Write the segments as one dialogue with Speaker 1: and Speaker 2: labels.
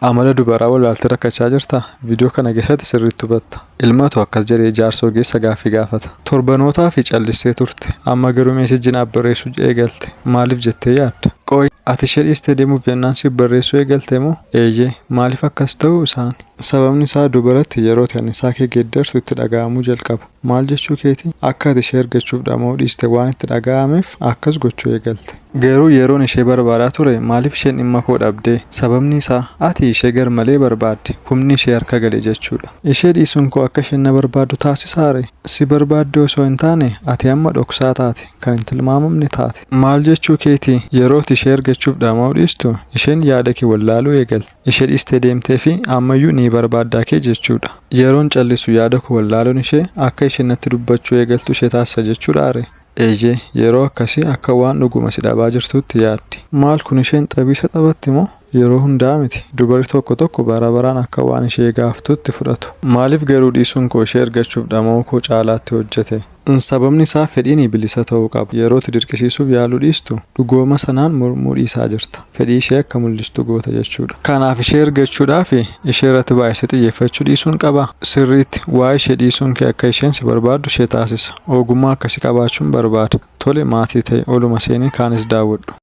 Speaker 1: Amala dubaraa wallaaltee rakkachaa jirtaa? Viidiyoo kana keessatti sirriitti hubatta. Ilmatu akkas jedhee jaarsa ogeessa gaaffii gaafata. Torbanootaafi callistee turte. Amma garuu meesejji naaf barreessuu eegalte. Maaliif jettee yaadda? Qoy, ati ishee dhiistee deemuuf jennaan siif barreessuu eegalte moo? Eeyyee. Maaliif akkas ta'uu isaani? Sababni isaa dubaratti yerooti annisaa kee geeddartu itti dhaga'amuu jalqaba. Maal jechuu keeti? Akka ati ishee argachuuf dhama'uu dhiiste waan itti dhaga'ameef akkas gochuu eegalte. Garuu yeroon ishee barbaadaa ture maaliif isheen dhimma koo dhabde? Sababni isaa ati ishee garmalee barbaadde, humni ishee harka gale jechuu dha. Ishee dhiisuun koo akka isheen na barbaaddu taasisaa ree? Si barbaaddee osoo hin taane, ati amma dhoksaa taate, kan hin tilmaamamne taate. Maal jechuu keeti? Yeroo ati ishee argachuuf dhama'uu dhiistu, isheen yaada kee wallaaluu eegalte. ishee dhiistee deemtee fi ammayyuu ni barbaadda kee jechuu dha. Yeroon callisu yaada koo wallaaluun ishee akka isheen natti dubbachuu eegaltu ishee taasisa jechuu dhaa ree? Eeyyee, yeroo akkasii akka waan dhuguma si dhabaa jirtuutti yaaddi. Maal kun isheen xabiisa taphatti moo? Yeroo hundaa miti. Dubarri tokko tokko bara baraan akka waan ishee gaaftuutti fudhatu. Maaliif garuu dhiisuun koo ishee ergachuuf dhama'uu koo caalaatti hojjete? Sababni isaa fedhiini bilisa ta'uu qaba. Yeroo itti dirqisiisuuf yaaluu dhiistu, dhugooma sanaan mormuu dhiisaa jirta. Fedhii ishee akka mul'istu goota jechuudha. Kanaaf ishee ergachuudhaaf ishee irratti baay'isee xiyyeeffachuu dhiisuun qaba. Sirriitti waa'ee ishee dhiisuun kee akka isheen si barbaaddu ishee taasisa. Ogummaa akkasii qabaachuun barbaada. Tole maatii ta'i, oluma seenii kaanis daawwadhu.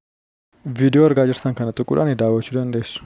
Speaker 1: Viidiyoo argaa jirtan kana tuquudhaan daawwachuu dandeessu.